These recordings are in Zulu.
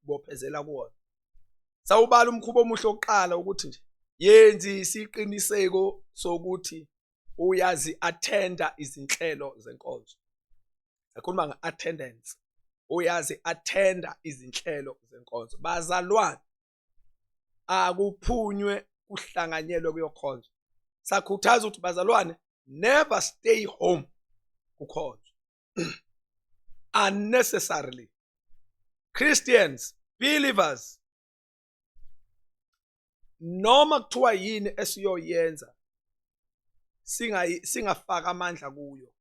bophezela kuwona sawubala umkhuba omuhle oqala ukuthi nje yenzi isiqiniseko sokuthi uyazi attenda izinhlelo zenkonzo akhuluma nge attendance uyazi attenda izinhlelo zenkonzo bazalwane akuphunywe kuhlanganyelwe kuyokhonza sakhuthaza ukuthi bazalwane never stay home kukhonza unnecessarily Christians believers noma kuthiwa yini esiyoyenza singayi singafaka amandla kuyo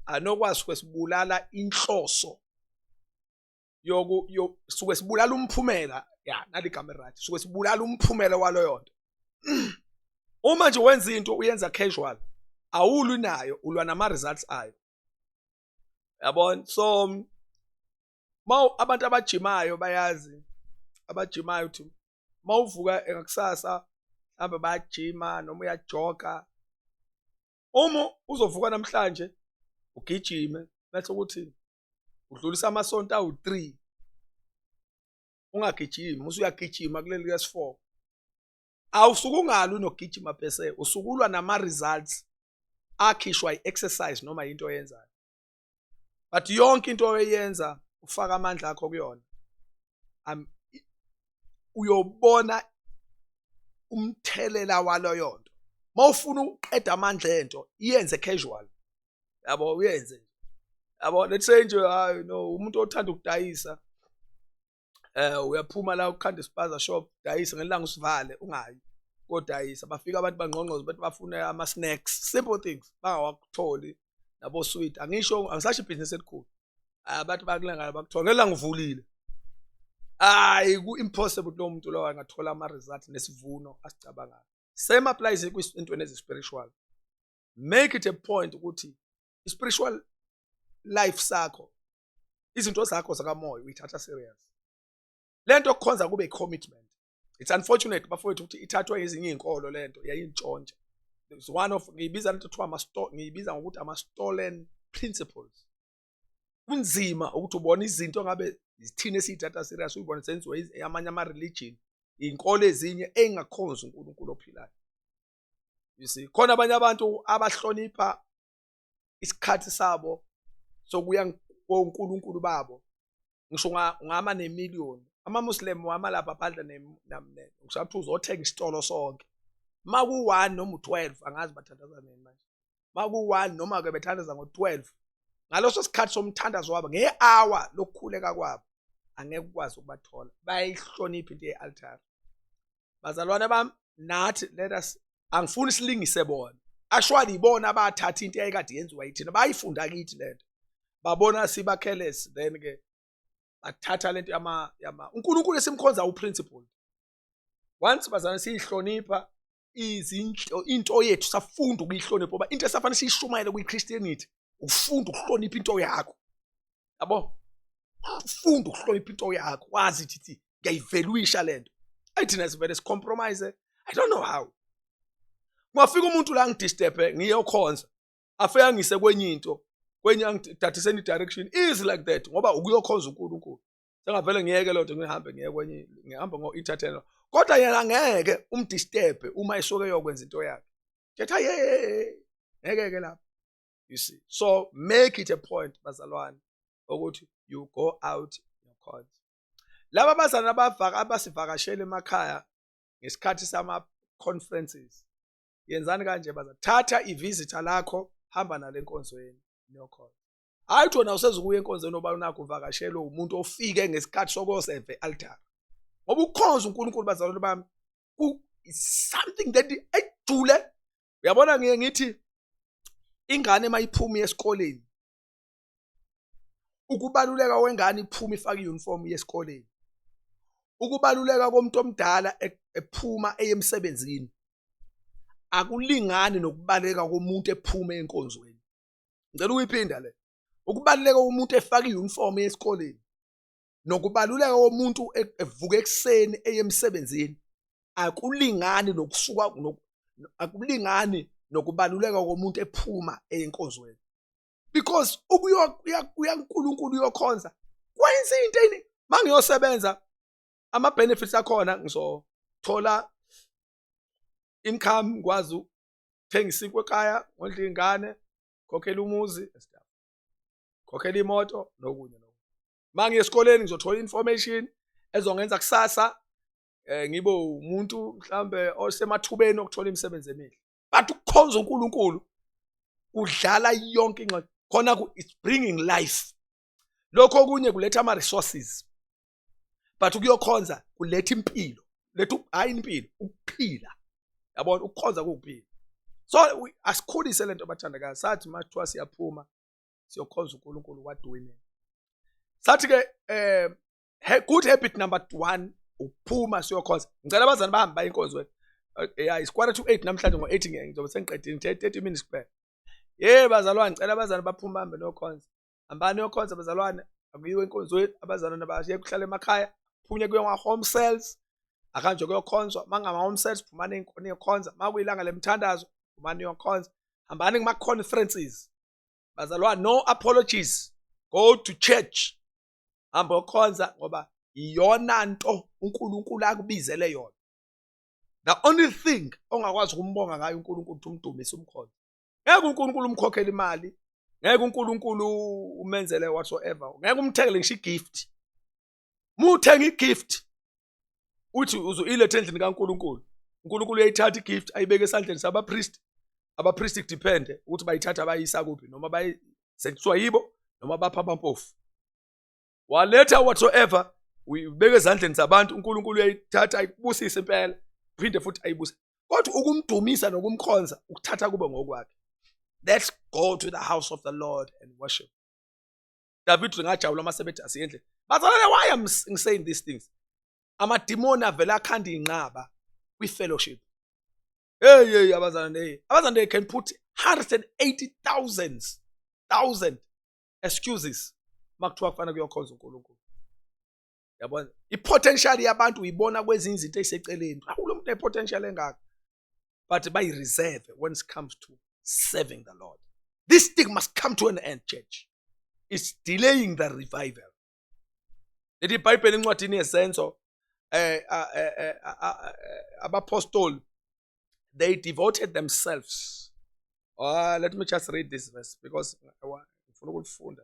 anokwazi kwesibulala inhloso yoku yo suke sibulala umphumela ya nali igama right suke sibulala umphumela waloyo nto uma nje wenza into uyenza casual awulwi nayo ulwa nama results ayo yabona so mawu abantu abajimayo bayazi abajimayo ukuthi mawuvuka ngakusasa hamba bayajima noma uyajoga uma uzovuka namhlanje ugijime bese ukuthi udlulisa amasonto awu-three ungagijimi usuyagijima kuleli likaSifoko awusuke ungalwi nokugijima bese usukulwa nama-results akhishwa i-exercise noma yinto oyenzayo but yonke into oyenza ufaka amandla akho kuyona uyobona umthelela waloyo nto mawufuna ukuqeda amandla ento iyenze casual yabo uyenze nje yabo let's say nje hayi no umuntu othanda ukudayisa eh uyaphuma la ukhanda ispaza shop dayisa ngelanga usivale ungayi kodayisa bafika abantu bangqongqoza bathi bafuna ama snacks simple things bangawakutholi nabo sweet angisho angisasho ibhizinisi elikhulu abantu bakulangala bakuthola ngelanga uvulile hayi ku-impossible kulo muntu lowo angathola ama-result nesivuno asicabangayo same applies entweni ezi-spiritual make it a point ukuthi i-spiritual life sakho izinto zakho zakamoya uyithatha serious le nto okukhonza kube i-commitment it's unfortunate bafowethu ukuthi ithathwa ezinye iy'nkolo le nto yayintshontsha is one of ngiyibiza lento kuthiwa ngiyibiza ngokuthi ama-stolen principles kunzima ukuthi ubone izinto ngabe zithina esiyithatha serious uyibone senziwe amanye ama-religion iy'nkolo ezinye ey'ngakhonzi unkulunkulu ophilayo you see khona abanye abantu abahlonipha isikhathi sabo sokuya koNkulunkulu babo ngisho ngama nemillion amamuslim wama lapha phandle namne ngishathi uzothenga isitolo sonke maku 1 noma u12 angazi bathandaza nini manje maku 1 noma ke bethandaza ngo12 ngaloso sikhathi somthandazo wabo ngehour lokukhuleka kwabo angeke ukwazi ukubathola bayihlonipha into yealtar bazalwane bami nathi let us angifuni silingise bona ashwali ibona abathatha into eyayikade yenziwa yithina bayifunda kithi lento babona sibakhelesi then ke bathatha lento yama yama uNkulunkulu esimkhonza uprinciple once bazana siyihlonipha izinto into yethu safunda ukuyihlonipha ngoba into esafanele siyishumayele kwiChristianity ufunda ukuhlonipha into yakho yabo funda ukuhlonipha into yakho wazi thithi ngiyayivelwisha lento ayithina sivele sicompromise i don't know how ngafika umuntu la ngidisturbe ngiyokhonza afike angise kwenye into kwenye angidadise any direction easy like that ngoba ukuyokhonza uNkulunkulu sengavele ngiyeke lento ngihambe ngiye kwenye ngihamba ngo entertainer kodwa yena ngeke umdisturbe uma esoke yokwenza into yakhe ngithi hey ngeke ke lapho you see so make it a point bazalwane ukuthi you go out your cause laba bazana abavaka abasivakashele emakhaya ngesikhathi sama conferences yenzani kanje baza thatha ivisitor lakho hamba nale nkonzweni nokhona hayi thona usezokuya enkonzweni oba unakho uvakashelwe umuntu ofike ngesikhathi sokoseve altar ngoba ukhonza uNkulunkulu bazalwane bami something that ejule uyabona ngiye ngithi ingane mayiphuma esikoleni ukubaluleka kwengane iphuma ifaka iuniform yesikoleni ukubaluleka komuntu omdala e-, ephuma eyemsebenzini akulingani nokubaleka komuntu ephuma enkonzweni ngicela ukuyiphinda le ukubaluleka komuntu efaka iuniform yesikoleni nokubaluleka komuntu e-, evuka ekuseni eye emsebenzini akulingani nokusuka akulingani nokubaluleka komuntu ephuma eyinkozweni because ukuya uyankulunkulu uyokhonza kwenza into ini mangiyosebenza ama benefits akhona ngizothola income ngikwazi ukuthenga isinkwe ekhaya ngondla ingane khokhela umuzi khokhela imoto nokunye uma ngiye esikoleni ngizothola i-information ezongenza kusasa um ngibe umuntu mhlawumbe osemathubeni okuthola imisebenzi emihle but ukukhonza unkulunkulu kudlala yonke ingxoxo khona it's bringing life lokho okunye kuletha ama-resources but ukuyokhonza kuletha impilo letha hhayi impilo ukuphila yabona ukukhonza kuwukuphila so asikhulise lento abathandakazi sathi uma kuthiwa siyaphuma siyokhonza uNkulunkulu what do we mean sathi ke eh good habit number 1 ukuphuma siyokhonza ngicela abazali bahambe baye enkonzweni eh, yeah is quarter to 8 namhlanje ngo 8 ngeke ngizobe sengiqedile 30 minutes kuphela hey bazalwane ngicela abazali baphume bahambe nokhonza hambani yokhonza bazalwane akuyiwe enkonzweni abazalwane bashiye kuhlala emakhaya phunye kuye ngwa home cells akanje kuyokhonzwa mangama home cells phumani inkoni yokhonza makuyilanga lemthandazo phumani yokhonza hambani kuma conferences bazalwa no apologies go to church hamba okhonza ngoba iyona nto uNkulunkulu akubizele yona the only thing ongakwazi ukumbonga ngayo uNkulunkulu ukuthi umdumise umkhonza ngeke uNkulunkulu umkhokhele imali ngeke uNkulunkulu umenzele whatsoever ngeke umthekele ngisho igift muthenge igift uthi uzoyiletha endlini kaNkuluNkulu uNkulunkulu uyayithatha igift ayibeke esandleni sabapriest abapriest depend ukuthi bayithatha bayisa kuphi noma bayi sekuthiwa yibo noma bapha abampofu waletha whatsoever uyibeke ezandleni zabantu uNkulunkulu uyayithatha ayibusise impela phinde futhi ayibuse kodwa ukumdumisa nokumkhonza ukuthatha kube ngokwakhe let's go to the house of the lord and worship David ngajabula uma sebethi asiyendle bazalwane why am saying these things amadimoni avela akhanda inqaba kwi fellowship hey hey abazalwane hey abazalwane they can put 180 thousands thousand excuses makuthiwa kufanele kuyokhonza uNkulunkulu yabona i-potential yabantu uyibona kwezinye izinto eziseceleni awu lo muntu ne-potential engaka but bayi-reserve when it comes to serving the lord this thing must come to an end church it's delaying the revival leli bhayibheli encwadini yesenzo eh, eh, eh, abapostoli they devoted themselves uh, let me just read this verse because ngifuna ukulifunda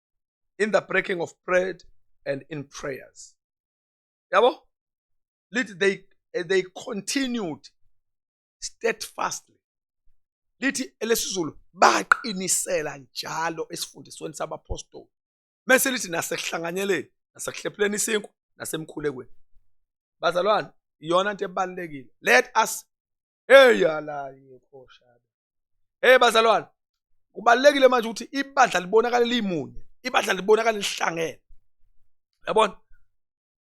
in the breaking of bread and in prayers yabo lithi they eh, they continued steadfastly lithi elesizulu baqinisela njalo esifundisweni sabapostoli mese lithi nasekuhlanganyeleni nasekuhlephuleni isinkwa nasemkhulekweni bazalwane iyona into ebalekile let us Hey yalaye khoshana. Hey bazalwane. Kubalekile manje ukuthi ibandla libonakala limunye. Ibandla libonakala lihlangene. Yabona?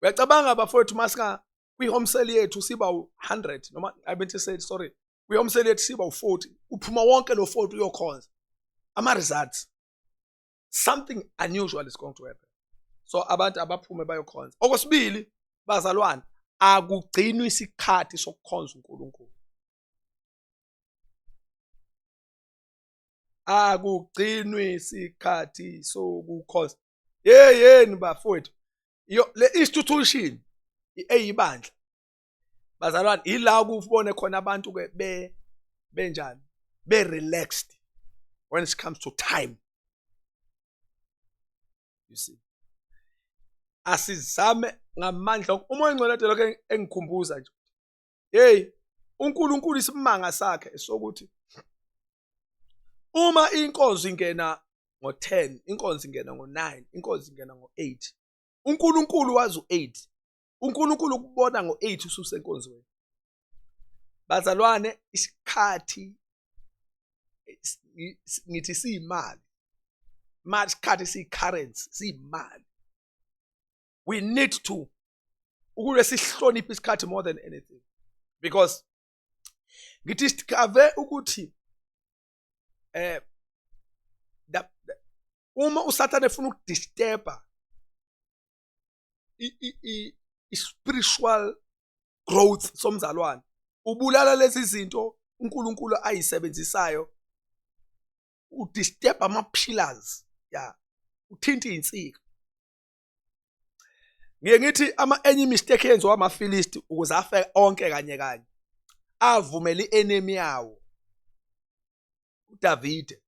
Uyacabanga bafowethu masika kwi home sale yethu siba u100 noma I meant to say sorry. Kwi home sale yethu siba u40. Uphuma wonke lo 40 uyokhonza. Ama results. something unusual is going to happen so abantu abaphume bayokhonza okwesibili bazalwane akugcinwa isikhathi sokukhonza uNkulunkulu akugcinwa isikhathi sokukhonza yeyeni bafowethu yo le institution eyibandla bazalwane ila ukubone khona abantu ke be benjani be relaxed when it comes to time you see asizame ngamandla uma engcwele ade lokho engikhumbuza nje hey uNkulunkulu isimanga sakhe sokuthi uma inkonzo ingena ngo10 inkonzo ingena ngo9 inkonzo ingena ngo8 uNkulunkulu wazi u8 uNkulunkulu ukubona ngo-8 ususenkonzweni bazalwane isikhathi ngithi siyimali mali isikhathi siyi-currency siyimali we need to ukube sihloniphe isikhathi more than anything because ngithi sikhave ukuthi eh uma usathane efuna ukudisturba i-spiritual growth somzalwane ubulala lezi zinto uNkulunkulu ayisebenzisayo udisturb ama pillars ya uthinta izinsika ngiye ngithi ama enye mistake yenziwa amaFilisti ukuze afe onke kanye kanye avumela ienemy yawo uDavide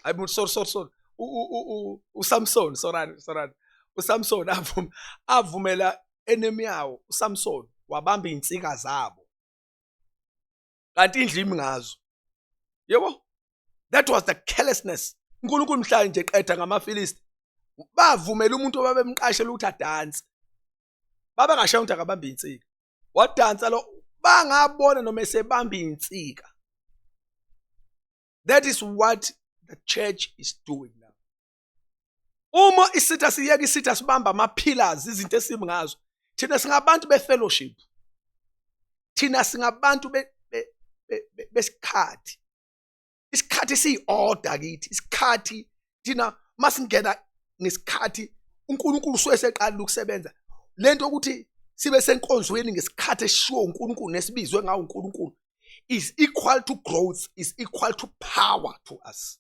hayi bo sorry sorry sorry uSamson sorry sorry uSamson avuma avumela enemy yawo uSamson wabamba insika zabo kanti indlimi ngazo yebo that was the carelessness uNkulunkulu mhlanje qeda ngamaFilisti bavumela umuntu obabemqashela ukuthi adanse baba ngashaya umuntu akabambe insika wadansa lo bangabona noma esebambe insika that is what the church is doing now uma isitha siyeka isitha sibamba ama pillars izinto esibi ngazo thina singabantu be fellowship thina singabantu be besikhathi isikhathi siyi-order kithi isikhathi thina masingena ngesikhathi uNkulunkulu usuke seqalile ukusebenza lento ukuthi sibe senkonzweni ngesikhathi esishiwo uNkulunkulu nesibizwe ngawo uNkulunkulu is equal to growth is equal to power to us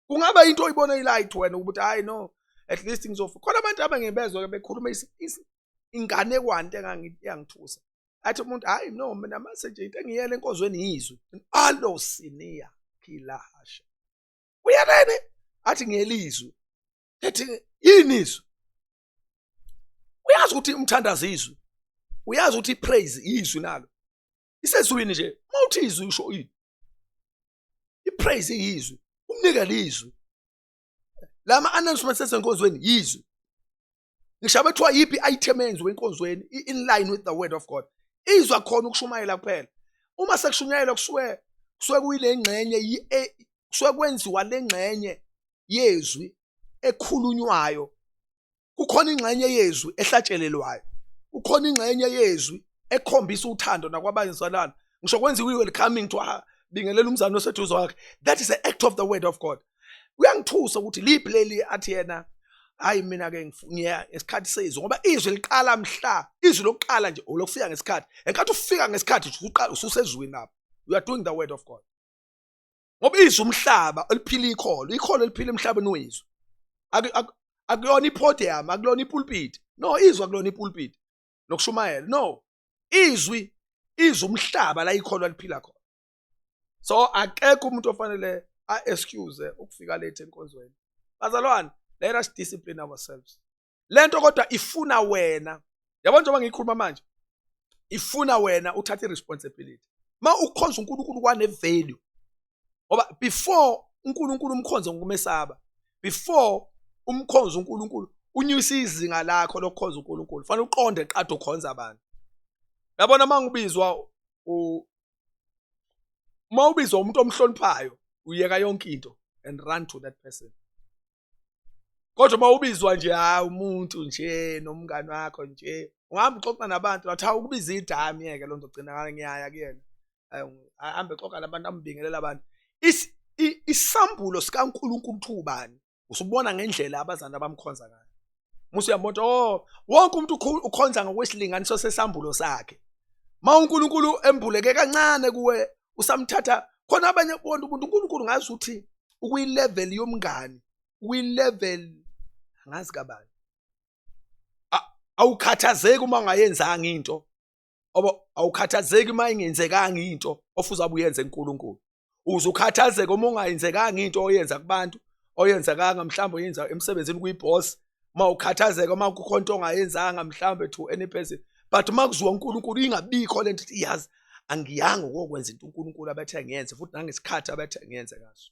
kungaba into oyibona ilight wena ukuthi hayi no at least ngizofa khona abantu abangebezwa ke bekhuluma ingane kwante engangithusa athi umuntu hayi no mina mase nje into engiyele enkonzweni yizwe alo siniya khilahasha uyelene athi ngiyelizwe ethi yini izwe uyazi ukuthi umthandazo izwi uyazi ukuthi ipraise izwi nalo isezwini nje uma uthi izwi usho ini ipraise izwi umnikele izwi la ma-announcements ezenkonzweni yizwe ngisho abethiwa yiphi i-item enziwe enkonzweni in line with the word of god izwa khona ukushumayela kuphela uma sekushunyayelwa kusuke kusuke kuyile ngxenye e, kusuke kwenziwa le ngxenye yezwi ekhulunywayo kukhona ingxenye yezwi ehlatshelelwayo kukhona ingxenye yezwi ekhombisa uthando nakwabanye zalana ngisho kwenziwa i-welcoming to her bingelela umzali oseduze wakhe that is the act of the word of god kuyangithusa ukuthi liphi leli athi yena hayi mina ke ngiya ngesikhathi sezwe ngoba izwi liqala mhla izwi lokuqala nje olokufika ngesikhathi enkathi ufika ngesikhathi usuqala ususezwini lapho you are doing the word of god ngoba izwe umhlaba oliphila ikholo ikholo eliphila emhlabeni wezwe akuyona ipodium akulona ipulpit no izwe akulona ipulpit nokushumayela no izwi izwe umhlaba la ikholo aliphila khona so akekho umuntu ofanele a excuse ukufika late enkonzweni bazalwane let us discipline ourselves lento kodwa ifuna wena yabo njengoba ngiyikhuluma manje ifuna wena uthathe responsibility ma ukhonza uNkulunkulu kwane value ngoba before uNkulunkulu umkhonze ngokumesaba before umkhonza uNkulunkulu unyusa izinga lakho lokukhonza uNkulunkulu fanele uqonde qade ukhonza abantu yabona mangibizwa u uma ubizwa umuntu omhloniphayo uyeka yonke into and run to that person kodwa uma ubizwa nje hayi umuntu nje nomngani wakho nje ungahamba uxoxa nabantu wathi hawu ukubiza idami yeke loo nto gcinakala ngiyaya kuyena ahambe xoxa nabantu ambingelela abantu isambulo sikankulunkulu uthi ubani usubona ngendlela abazana bamkhonza ngayo musa uyambona oh wonke umuntu ukhonza ngokwesilinganiso sesambulo sakhe ma uNkulunkulu embuleke kancane kuwe usamthatha khona abanye bonke umuntu uNkulunkulu ngazi ukuthi ukuyilevel yomngani ukuyilevel ngazi kabani awukhathazeki uma ungayenzanga into oba awukhathazeki uma ingenzekanga into ofuza buyenze uNkulunkulu uze ukhathazeke uma ungayenzekanga into oyenza kubantu oyenzekanga mhlawumbe oyenza emsebenzini kuyiboss uma ukhathazeka uma kukho into ongayenzanga mhlawumbe to any person but uma kuziwa uNkulunkulu ingabikho le nto ithi iyazi angiyanga ukokwenza into uNkulunkulu abethe ngiyenze futhi nangesikhathi abethe ngiyenze ngaso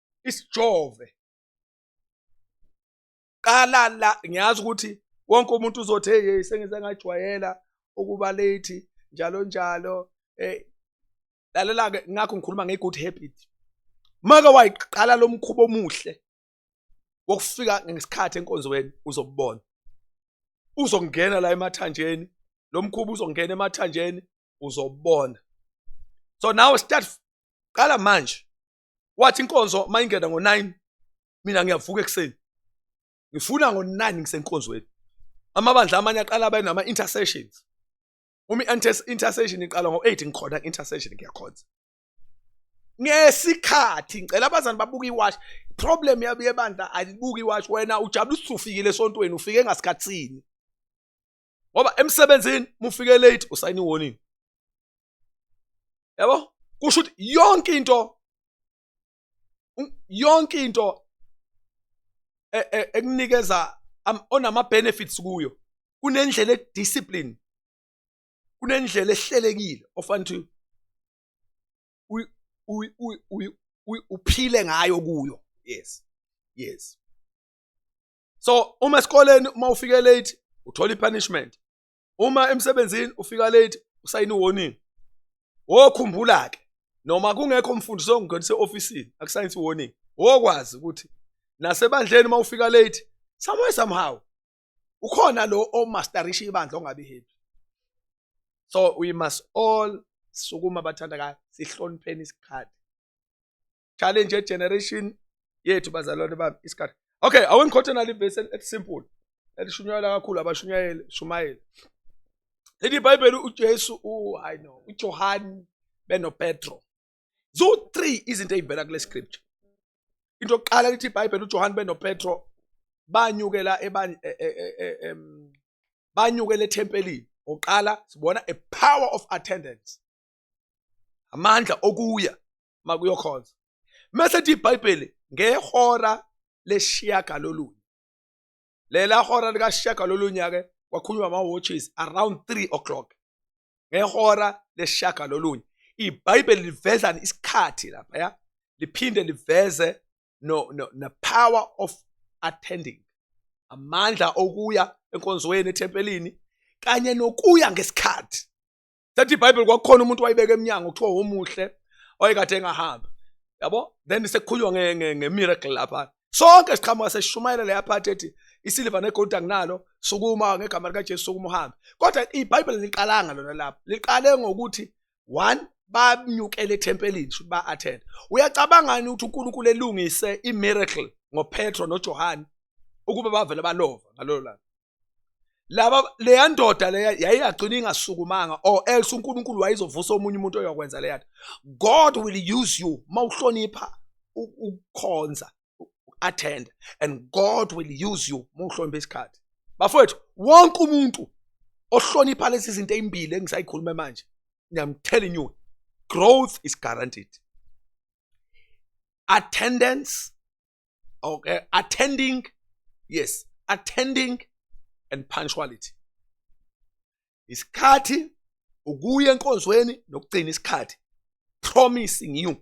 isijove qala la ngiyazi ukuthi wonke umuntu uzothi hey sengize ngajwayela ukuba late njalo njalo eh lalela ke ngakho ngikhuluma nge good habit maka wayiqala lomkhubo omuhle wokufika ngesikhathi enkonzweni uzobona uzongena la emathanjeni lomkhubo uzongena emathanjeni uzobona so now start qala manje wathi inkonzo uma ingena ngo-nine mina ngiyavuka ekuseni ngifuna ngo-nine ngisenkonzweni amabandla amanye aqala abe nama-intercessions uma i-intercession iqala ngo-eight ngikhona ku-intercession ngiyakhonza ngesikhathi ngicela abazani babuka iwashi problem yabo yebandla alibuka iwashi wena ujabula usufikile esontweni ufike ngasikhathini ngoba emsebenzini mufike late usayina iwarning yabo kusho ukuthi yonke into yonke into e, e, ekunikeza onama benefits kuyo kunendlela ediscipline kunendlela ehlelekile ofanele uphile ngayo kuyo yes yes so uma esikoleni uma ufike late uthola ipunishment uma emsebenzini ufika late usayina warning wokhumbula ke noma kungekho umfundisi ongenise office akusayinsi warning wokwazi ukuthi nasebandleni uma ufika late somewhere somehow ukhona lo omasterisha ibandla ongabi happy so we must all sukuma bathandakayo sihlonipheni isikhathi challenge ye generation yethu bazalwane bami isikhathi okay awengikhothi nali verse elisimple elishunyayela kakhulu abashunyayeli shumayeli leli bhayibheli ujesu hayi no ujohani benopetro ziwu-three izinto ey'vela kule scripture into yokuqala lithi ibhayibheli ujohani benopetro banyukela e, e, e, banyukela ethempelini oqala sibona a power of attendance amandla okuya makuyokhonza mese thi iBhayibheli ngehora leshiyagalolunye lela hora likashiyagalolunye ke kwakhulunywa ama watches around 3 o'clock ngehora leshiyagalolunye iBhayibheli liveza isikhathi lapha ya liphinde liveze no, no the power of attending amandla okuya enkonzweni ethempelini kanye nokuya ngesikhathi thatha ibhayibheli kwakukhona umuntu wayibeka emnyango kuthiwa womuhle wayekade engahambi yabo then sekukhulunywa nge-miracle lapha sonke siqhamuka sesishumayela leya phathi ethi isiliva negolide anginalo sukuma ngegama likajesu sukuma uhambe kodwa ibhayibheli liqalanga lona lapho liqale ngokuthi one bamnyukele ethempelini shuthi ba-attend uyacabangani ukuthi unkulunkulu elungise i-miracle ngopetro nojohane ukuba bavele balova ngalolo langa laba leya ndoda leya yayingagcina ingasukumanga or else uNkulunkulu wayezovusa omunye umuntu oyokwenza leya nto God will use you mawuhlonipha ukukhonza attend and God will use you mawuhlonipha isikhathi bafowethu wonke umuntu ohlonipha lezi zinto ezimbili engisayikhuluma manje I'm telling you growth is guaranteed attendance okay attending yes attending and punctuality isikhathi ukuya enkonzweni nokugcina isikhathi promising you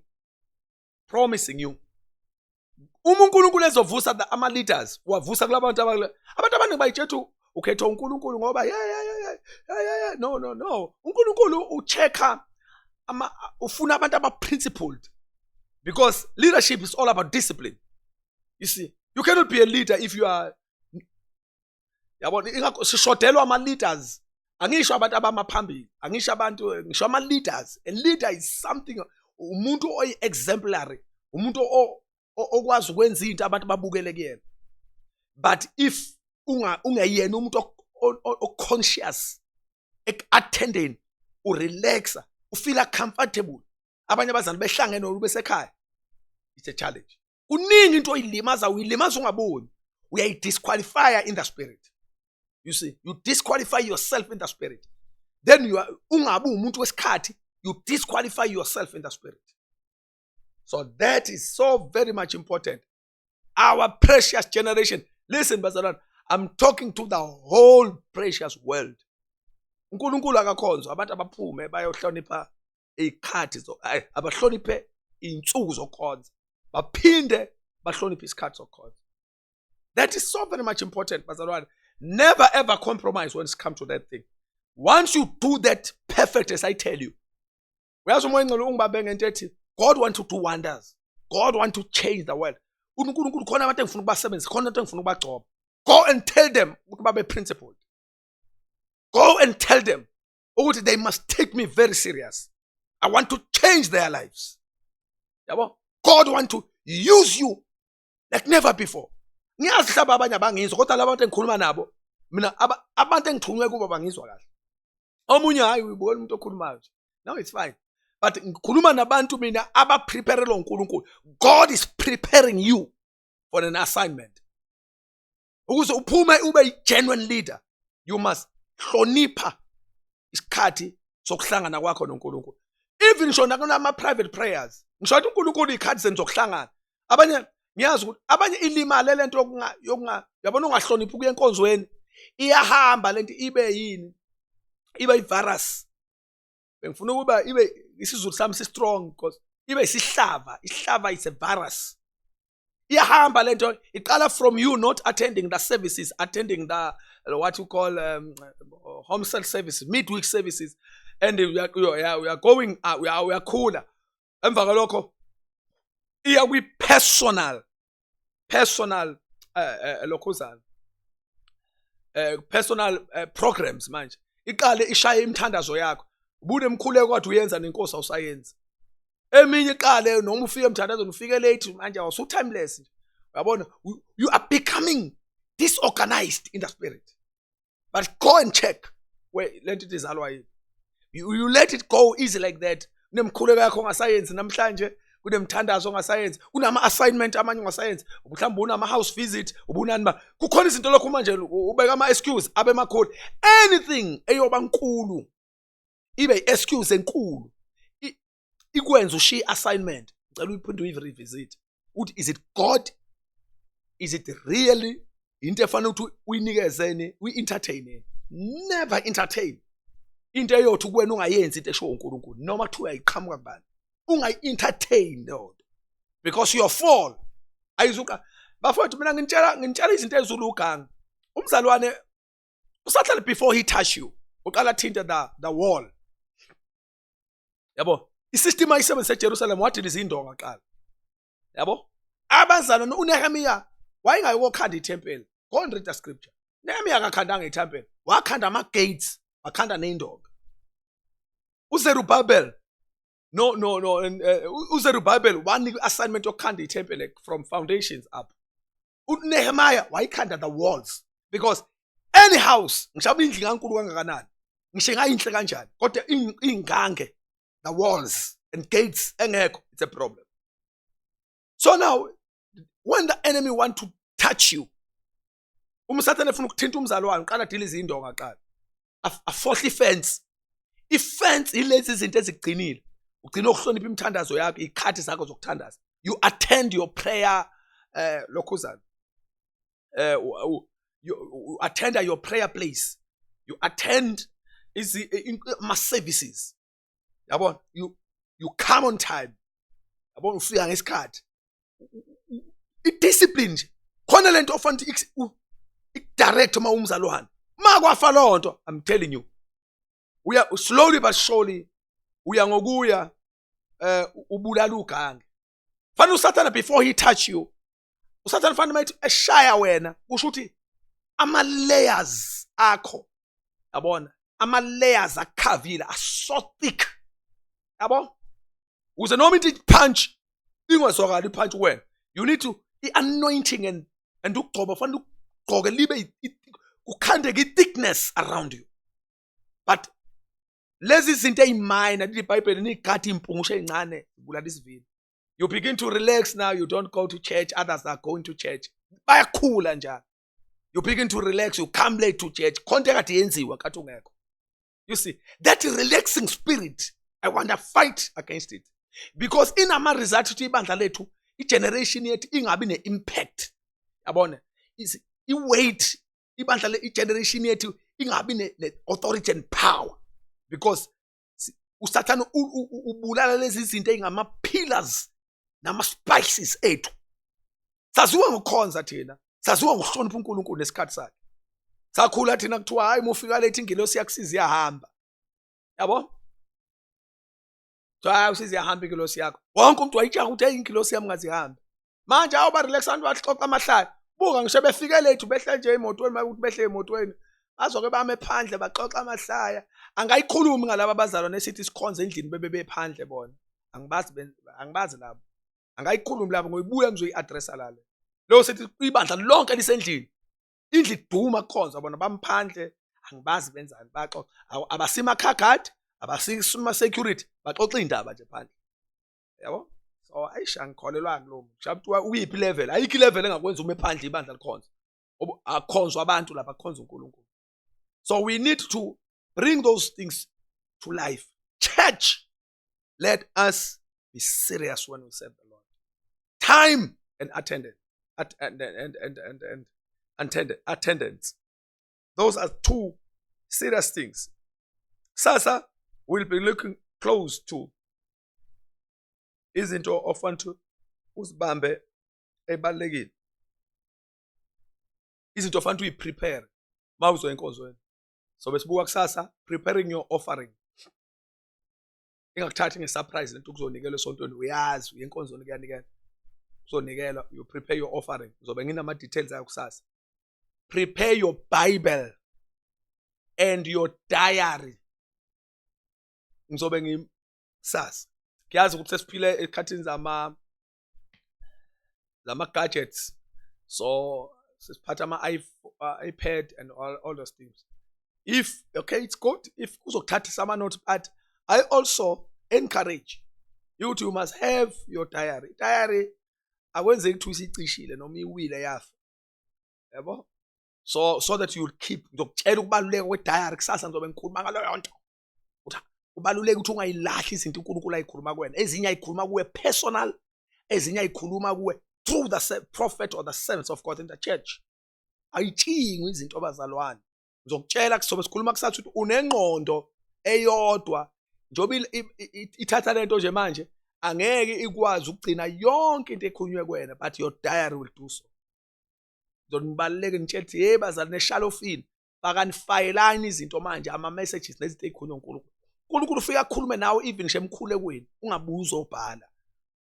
promising you uma uNkulunkulu ezovusa ama leaders wavusa kulabantu abantu abaningi bayitshethu ukhetha uNkulunkulu ngoba yeah yeah yeah yeah yeah no no no uNkulunkulu uchecker ama ufuna abantu aba principled because leadership is all about discipline you see you cannot be a leader if you are yabona ingakho sishodelwa ama-leaders angisho abantu abama phambili angisho abantu eh, ngisho ama-leaders a leader is something umuntu oyi-exemplary umuntu okwazi ukwenza into abantu babukele kuyena but if ungeyena umuntu oconscious eku-attendeni urelaxa ufila comfortable abanye abazali behlangene olu besekhaya it's a challenge kuningi into oyilimaza uyilimaza ungaboni uyayidisqualifya in the spirit you see you disqualify yourself in the spirit then you are ungabi umuntu wesikhathi you disqualify yourself in the spirit so that is so very much important our precious generation listen bazalwana i'm talking to the whole precious world unkulunkulu akakhonzwa abantu abaphume bayohlonipha iy'khathi abahloniphe iy'nsuku zokukhonza baphinde bahloniphe isikhathi sokukhonza that is so very much important bazalwane never ever compromise when it comes to that thing once you do that perfect as i tell you uyazi umoya engcelo ungibambe ngento ethi god want to do wonders god want to change the world unkulunkulu khona abantu engifuna ukubasebenzisa khona into engifuna ukubagcoba go and tell them ukuthi babe principled go and tell them ukuthi they must take me very serious i want to change their lives yabo god want to use you like never before ngiyazi hlaba abanye abangizwa kodwa labantu engikhuluma nabo mina abantu engithunywe kubo bangizwa kahle omunye hayi uyibona umuntu okhulumayo nje now it's fine but ngikhuluma nabantu mina abapreparelwa uNkulunkulu God is preparing you for an assignment ukuze uphume ube i-genuine leader you must hlonipha isikhathi sokuhlangana kwakho noNkulunkulu even ngisho nakunama-private prayers ngisho ukuthi uNkulunkulu iy'khathi zenu zokuhlangana abanye ngiyazi ukuthi abanye ilimale le nto yokunga yabona ungahloniphi ukuya enkonzweni iyahamba le nto ibe yini ibe i-virus bengifuna ukuba ibe isizulu sami si strong because ibe isihlava isihlava is a virus iyahamba lento iqala from you not attending the services attending the what you call um, home cell services midweek services and we are, we are, we are going uh, we are, we are cooler emva kwalokho iya kwi personal personal eh, eh, eh lokhuzana eh personal eh, programs manje iqale ishaye imithandazo yakho ubude mkhuleko kwathi uyenza nenkosi awusayenzi eminye iqale noma ufike emthandazweni ufike late manje awusu timeless nje uyabona you are becoming disorganized in the spirit but go and check where le nto izalwa yini you, you let it go easy like that kunemkhuleko yakho ongasayenzi namhlanje kunemthandazo ongasayenzi kunama-assignment amanye ongasayenzi mhlawumbe unama-house visit ubunani ba kukhona izinto lokhu manje ubeka ama-excuse abe makhulu anything eyoba nkulu ibe i-excuse enkulu ikwenza ushiye assignment ngicela uyiphinde uyirevisit ukuthi is it god is it really into efanele ukuthi uyinikezeni uyi-entertain never entertain into eyothi kuwena ungayenzi into eshiwo unkulunkulu noma kuthiwa uyayiqhamuka kubani ungayi-entertain leyo nto because your fall ayizuqa bafowethu mina ngintshela ngintshela izinto ezulu ugangi umzalwane usahlale before he touch you uqala thinte the, the wall yabo isystem ayisebenzise eJerusalem wadila izindonga kuqala yabo abazalwa uNehemiya wayengayokokhanda ithempeli go and read the scripture Nehemiya akakhandanga ithempeli wakhanda ama gates wakhanda neyindonga uZerubabel no no no uh, uZerubabel wanika assignment yokukhanda ithempeli from foundations up uNehemiah wayikhanda the walls because any house ngishaba indlu kaNkulu kangakanani ngisho ingayinhle kanjani kodwa ingange the walls and gates engekho it's a problem so now when the enemy want to touch you uma usathane efuna ukuthinta umzalwane uqala deal izindonga qala afohle ifence ifence ilezi zinto ezigcinile ugcina ukuhlonipha imithandazo yakho ikhathi zakho zokuthandaza you attend your prayer eh lokhuzana eh you attend your prayer place you attend ama services yabona you you come on time yabona ufika ngesikhathi idiscipline nje khona lento ofanele ikudirect uma umzali uhamba ma kwafa loo nto i'm telling you uya slowly but surely uya ngokuya eh ubulala ugange fanele usathane before he touch you usathane fanele mayithi eshaya wena kusho ukuthi ama layers akho yabona ama layers akhavile are so thick yabo uze noma into punch ingazwakali punch wena you need to i anointing and and ukugcoba fanele ugqoke libe kukhandeke i thickness around you but lezi zinto eziminor lithi ibhayibheli nigade impungushe ezincane kulala isivini you begin to relax now you don't go to church others are going to church bayakhula njalo you begin to relax you come late to church khonto ekade yenziwa kathi ungekho you see that relaxing spirit i want to fight against it because inama-result ukuthi ibandla lethu igeneration yethu ingabi ne-impact yabona iweight ibandla le igeneration yethu ingabi ne-authority and power because usathane ubulala lezi zinto ey'ngama-pillars nama-spices ethu saziwa ngokukhonza thina saziwa ngokuhlonipha unkulunkulu nesikhathi sakhe sakhula thina kuthiwa hhayi mufika lethi ingilosi yakusiza iyahamba yabo kuthiwa hayi usiziyahambe ingilosi yakho wonke umuntu wayitshaha ukuthi eyi ingilosi yami ngazihambe manje awuba relax abantu baxoxa amahlaya buka ngisho befike lethu behle nje emotweni makuthi behle emotweni bazoke bame phandle baxoxa amahlaya angayikhulumi ngalaba bazalwane esithi sikhonze endlini bebe bephandle bona angibazi angibazi labo angayikhulumi labo ngoyibuya ngizoyi-addressa lale leyo sithi ibandla lonke lisendlini indlu iduma kukhonza bona bamphandle angibazi benzani baxoxa abasima car guard abasima security baxoxa indaba nje phandle yabo so ayisha ngikholelwa kulo muntu kuthiwa uyiphi level ayikho level engakwenza uma ephandle ibandla likhonza akhonzwa abantu lapha akhonza uNkulunkulu so we need to bring those things to life church Let us be serious when we serve the Lord. Time and attendance. At, and, and, and, and, and, and attend, attendance. Those are two serious things. Sasa will be looking close to izinto ofuna ukuthi uzibambe ebalekile izinto ofuna ukuthi uyiprepare uma uzoya enkonzweni so besibuka kusasa preparing your offering ingakuthathi nge-surprise lento kuzonikelwa esontweni uyazi uye enkonzweni kuyanikela kuzonikelwa you prepare your offering ngizobe nginama-details ayo kusasa prepare your bible and your diary ngizobe ngisasa ngiyazi ukuthi sesiphile ekhathini zama lama gadgets so sesiphatha ama uh, iPad and all all those things if okay it's good if kuzokuthatha sama notes but i also encourage you to you must have your diary diary akwenzeki ukuthi usicishile noma iwile yafa yabo so so that you'll keep ngizokutshela ukubaluleka kwediary kusasa ngizobe ngikhuluma ngaloyo nto kubaluleka ukuthi ungayilahli izinto uNkulunkulu ayikhuluma kuwena ezinye ayikhuluma kuwe personal ezinye ayikhuluma kuwe through the prophet or the servants of God in the church ayitshingwe izinto abazalwane ngizokutshela kusobe sikhuluma kusathi ukuthi unengqondo eyodwa njengoba ithatha lento nje manje angeke ikwazi ukugcina yonke into ekhulunywe kuwena but your diary will do so ngizonibaluleke ngitshela ukuthi hey bazali neshalofini bakanifayelani izinto manje ama-messages nezinto ey'khulunywa unkulunkulu unkulunkulu ufike akhulume nawe even nje emkhulekweni ungabuye uzobhala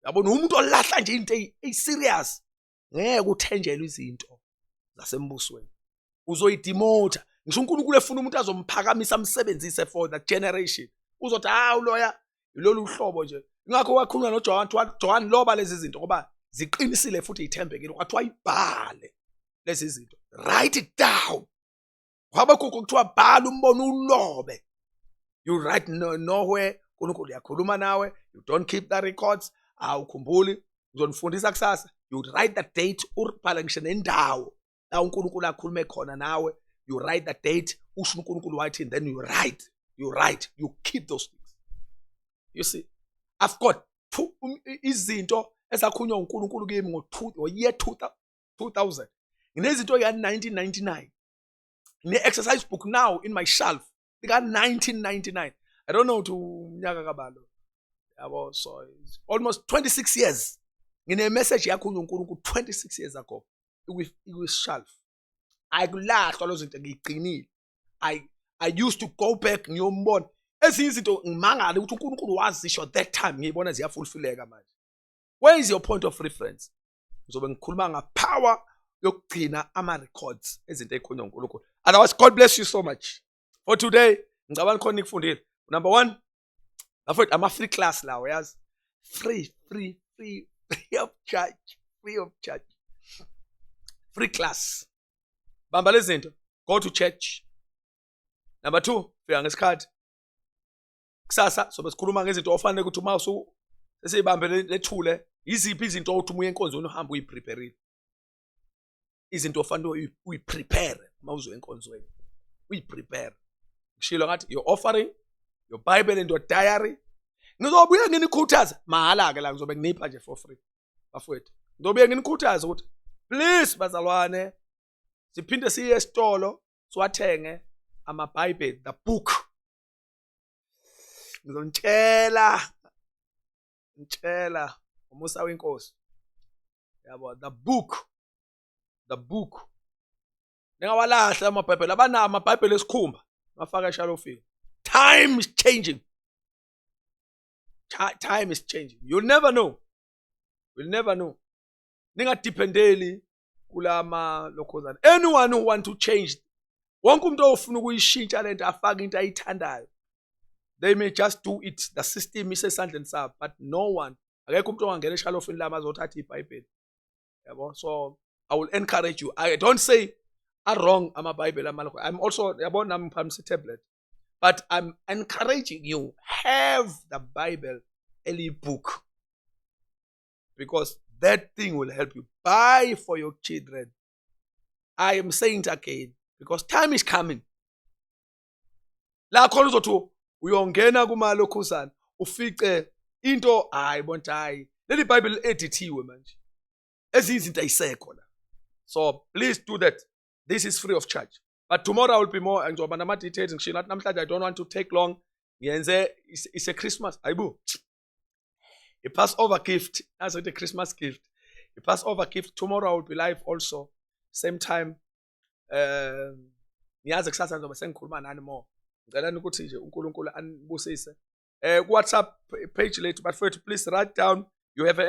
yabona umuntu olahla nje into eyi-serious ngeke uthenjelwe izinto zasembusweni uzoyidimotha ngisho unkulunkulu efuna umuntu azomphakamisa amsebenzise for the generation uzothi hawu loya ilolu hlobo nje ingakho wakhuluma noJohn kuthiwa John loba lezi zinto ngoba ziqinisile futhi ithembekile kwathiwa ibhale lezi zinto write it down wabe kukho kuthiwa bhala umbono ulobe you write no, nowhere uNkulunkulu uyakhuluma nawe you don't keep the records awukhumbuli uzonifundisa kusasa you write the date uribhale ngisho nendawo la uNkulunkulu akhulume khona nawe you write the date usho uNkulunkulu wathi then you write you write you keep those things you see i've got two um, izinto esakhunywa uNkulunkulu kimi ngo year 2000 nginezinto ya 1999 ne exercise book now in my shelf ika-1999 i don't know ukuthi umnyaka kabalo yabo so almost 26 years nginemeseji yakho unkulunkulu 26 years ago ikwishelf ayikulahlwa lo zinto ngiyigcinile i i used to go back ngiyombona ezinye izinto ngimangale ukuthi unkulunkulu wazisho that time ngiyibona ziyafulfileka manje where is your point of reference ngizobe ngikhuluma ngapower yokugcina ama-records ezinto ey'khona unkulunkulu otherwise god bless you so much for today ngicabanga khona nikufundile number one bafowethu ama-free class lawo yazi free free free free of charge free of charge free class bamba lezi zinto go to church number two fika ngesikhathi kusasa sobe sikhuluma ngezinto ofanele ukuthi uma usu esibambe lethule yiziphi izinto othi uma enkonzweni uhamba uyiprepare izinto ofanele uyiprepare uma uzo enkonzweni uyiprepare ngishilo ngathi your offering your bible and your diary ngizobuye nginikhuthaza mahala ke la ngizobe nginipha nje for free bafowethu ngizobuye nginikhuthaza ukuthi please bazalwane siphinde siye esitolo siwathenge amabhayibheli the book ngizonitshela ngitshela umusa wenkosi yabo the book the book ningawalahla amabhayibheli abanawo amabhayibheli esikhumba bafaka eshalofini time is changing time is changing you'll never know you'll never know ningadependeli kulama lokhozana anyone who want to change wonke umuntu ofuna ukuyishintsha lento afaka into ayithandayo they may just do it the system isesandleni sabo but no one akekho umuntu ongangena eshalofini lami azothatha ibhayibheli yabo so i will encourage you i don't say are wrong amabhayibheli amalokho i'm also yabo nami ngiphakamisa itablet but i'm encouraging you have the bible eliyibook because that thing will help you buy for your children i am saying it again because time is coming la khona uzothi uyongena kumalokhuzana ufice into hayi bonta hayi leli bible edithiwe manje ezinye izinto ayisekho la so please do that this is free of charge but tomorrow i will be more ngizoba nama-details ngisho nathi namhlanje i don't want to take long ngiyenze ise-christmas ayibo A Passover gift. That's a Christmas gift. A Passover gift. Tomorrow I will be live also. Same time. Um, ngiyazi kusasa ngizobe sengikhuluma nani more. Ngicela ukuthi nje uNkulunkulu anibusise. Eh ku WhatsApp page lethu bafethu please write down you have a